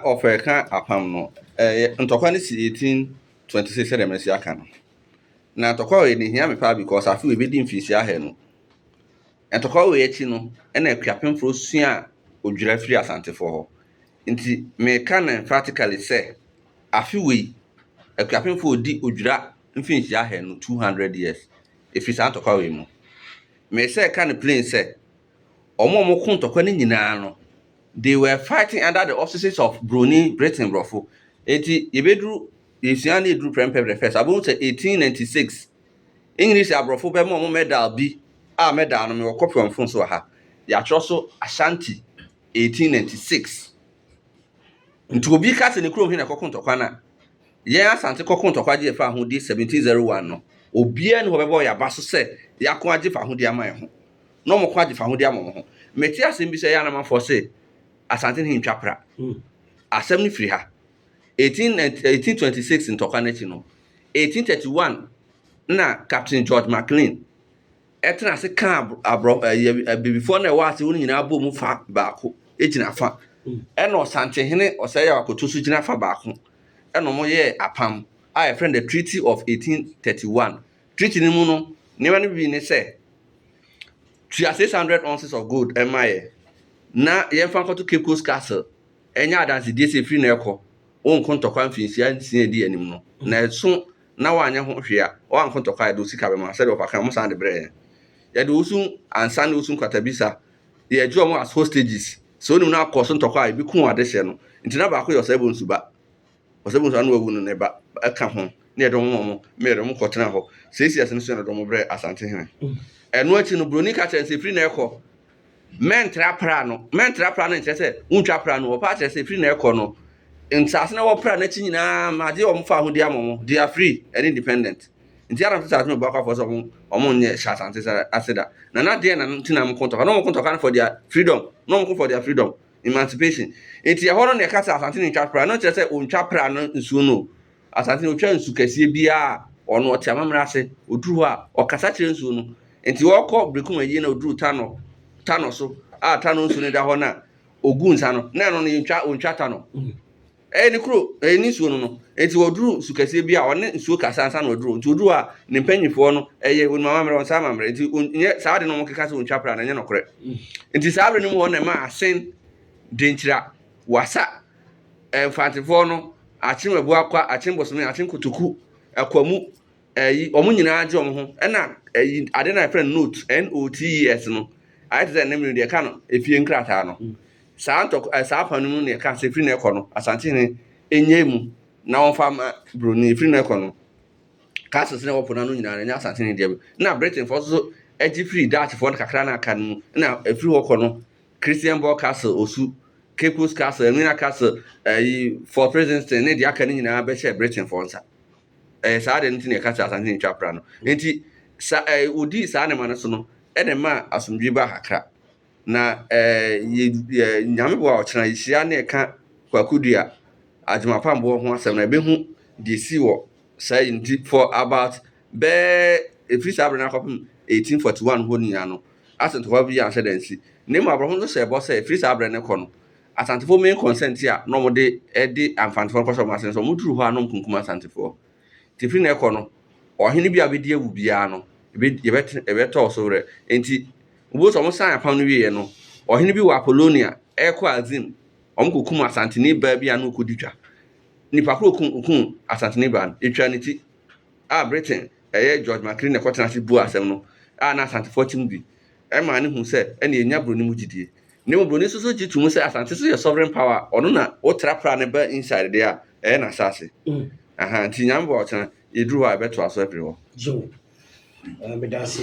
wɔfrɛ ka apam no, ɛyɛ ntɔkwa no si eighteen twenty six sɛdeɛ mɛsi aka no na ntɔkwa wei no hia me paa because afe wei bɛdi mfinhyia ahɛ no ntɔkwa wei akyi no ɛna akuapemfoɔ sua odwira firi asantefoɔ hɔ nti meka no emphatically sɛ afe wei akuapemfoɔ ɔdi odwira mfinhyia ahɛ no two hundred years ɛfiri saa ntɔkwa wei mu mesɛ ka no plain sɛ wɔn a wɔko ntɔkwa no nyinaa no, they were fighting under the auspices of Buroni, Britain, Borɔfo. Enti, yɛbɛduru, yɛsua na ɛduru prɛmpɛ the first, abɛhu sɛ 1896, English aborɔfo bɛma wɔn medal bi a medal no mewɔ kɔpi wɔ me phone so wɔ ha. Yɛatwerɛ so Ashanti 1896. Nti obi ka sɛ ne kurom he na ɛkɔko ntɔkwa no a, yɛn Asante kɔko ntɔkwa gye yɛfa ahodi 1701 no, obiara ni hɔ bɛbɔ yɛn aba so sɛ yɛako agye fa ahodi ama yɛn ho. na ɔmo ko agye fahode ama ɔmo ho. Mete asem bi sɛ ɛyɛ a na amanfoɔ se Asanten he ntwa pra. Asem no firi ha. 1826 ntɔkwa no akyi no, 1831 na Captain George McLean tena ase kaa Abrɔ Abibifoɔ no a ɛwɔ ase hɔ no nyinaa bɔɔ mu fa baako gyina fa, ɛna Ɔsante hene Ɔsɛeyawa koto so gyina fa baako, ɛna ɔmo yɛɛ apam a yɛfrɛ no The Treaty of 1831 Treaty no mu no nneɛma no bi ne sɛ, tua 600 ounces of gold mma yɛn na yɛmfa nkɔto Cape Coast Castle nyɛ adansedie sɛ ɛfiri na ɛrekɔ, wonko ntɔkwa mfinhyia nsia a ɛdi anim no, na ɛso na woanyɛ ho hwee a, woanko ntɔkwa a, yɛde wo sika bɛma, sɛdeɛ wɔfa ka no, wɔsan de brɛɛ yɛn. Yɛde osu, ansa ne osu nkwatabisa, yɛgye wɔn as hostages, sɛ wonim na akɔ so ntɔkwa a, ɛbɛku wɔn adehyeɛ no, nti na baako yɛ ɔsɛebɔ nsuba. Ɔsɛ bohu saa na wawu no ne ba ɛka ho ne yɛ dɔm wɔn meyɛ dɔm kɔ tena hɔ seesi ase no so yɛ no dɔm brɛ asante hene ɛno akyi no broni ka kyerɛ sɛ firi na ɛkɔ mɛntra pra no mɛntra pra no nkyerɛ sɛ wontwa pra no ɔpa kyerɛ sɛ firi na ɛkɔ no nsase na wɔpra n'akyi nyinaa ma agye wɔn fa ho di ama wɔn they are free and independent nti anam sɛ saa no bɔ akɔfo sɛ wɔn wɔn nyɛ hyɛ asante ase da na na deɛ na ntina wɔn kɔntɔka na wɔn kɔntɔka no for their freedom na wɔn kɔ for their freedom Emancipation. Enti ɛhɔ no na yɛka sɛ Asante na ntwa pra. No kyerɛ sɛ ontwa pra no nsuo no o. Asante no otwa nsu kɛseɛ biara a ɔno ɔte amammerɛ ase. Oduru hɔ a, ɔkasa kyerɛ nsuo no. Enti ɔkɔ Brekum ayie na oduru Tanɔ, Tanɔ so a Tanɔ nsuo no da hɔ na ogu nsa no, na ɛno no yɛntwa, ontwa Tanɔ. Ɛyɛ ne kuro, ɛyɛ ne nsuo no no. Enti ɔduru nsu kɛseɛ bi a, ɔne nsuo kasa ansa na waduru hɔ. Nti ɔduru hɔ a, ne mpanimfoɔ no, ɛyɛ wɔnim amammerɛ, wɔn nsa amammerɛ. Nti wɔnyɛ saa ade no a wɔkeka sɛ wɔntwa pra no, ɛnyɛ nokorɛ. Nti saa berɛ no mu hɔ na ɛmaa Asen, Denkyira, Wasa, Mfantefoɔ no, Akyem Abuakwa, Akyem Bosome, Akyem Kotoku, Akwamu, Ɛyi, wɔn nyinaa agye wɔn ho. Ɛna ɛyi, ade na yɛfrɛ no note, N-O-T-E-S no, ayɛ te sɛ ne mene deɛ ɛka no efie nkrataa no. Mm. Saa ntɔk, eh, saa afanu no na ɛka sɛ firi na ɛkɔ no, Asantehene ɛnyɛ mu na wɔmfa ma Broni, firi na ɛkɔ no, castles na ɛwɔ po no ano nyinaa no, ɛnyɛ Asantehene deɛ mu. Na Britainfoɔ nso so agye firi Dutchfoɔ no kakra na aka no mu, na ɛfiri hɔ kɔ no, Christianborg Castle, Osu, Caples Castle, Anwina Castle, ɛyi, Fort Princeton ne deɛ aka no nyinaa bɛhyɛ Britainfoɔ nsa. Ɛyɛ saa ade no nti na yɛka sɛ asase ntwa pra no. Enti sa ɛ wodii saa nneɛma no so no, ɛna ɛmaa asomdwoe baa kakra. Na ɛ yɛ yɛ Nyame boa a, ɔkyena yɛhyia na yɛka Kwaku Dua Agyemapamboɔ ho asɛm na yɛbɛhu deɛ ɛsii wɔ saa yi nti for about bɛyɛ ɛfiri saa berɛ no akɔpem 1841 hɔ nyinaa no, asɛntɔkwa biara anhyɛ da ansi. Na mmom aborɔfo nso hyɛɛ bɔ sɛ ɛfiri saa berɛ no rekɔ no, Asantefoɔ main concern nti a na wɔde de Amfantefoɔ no kɔhyɛ wɔn ase no sɛ wɔduru hɔ a na wɔkunkum Asantefoɔ. Nti firi na ɛkɔ no, ɔhene bi a ɔbɛdi awu biara no, yɛbɛ yɛbɛte yɛbɛtɔ so werɛ. Nti wobɛhu sɛ wɔsan apam no wieeɛ no, ɔhene bi wɔ Apollonia ɛrekɔ Azim, wɔkɔkum Asanteni baa bi a na ɔrekɔdi twa. Nnipa korɔ ɔkum ɔkum Asanteni baa no, ɛtwaa ne ti a Britain ɛyɛ George Maclean na ɛkɔtenaa ase buaa asɛm no a na Asantefoɔ te mu bi, ɛmaa no huu sɛ ɛnneɛ ɛnya buroni mu gyidie. Na mmom broni so so gye to mu sɛ Asante so yɛ sovereign power a ɔno na wotra pra no ba inside deɛ a ɛyɛ n'asase. Aha nti Nyame boa wo tena yɛduru hɔ a yɛbɛtoa so afiri hɔ. Gyew. Meda ase.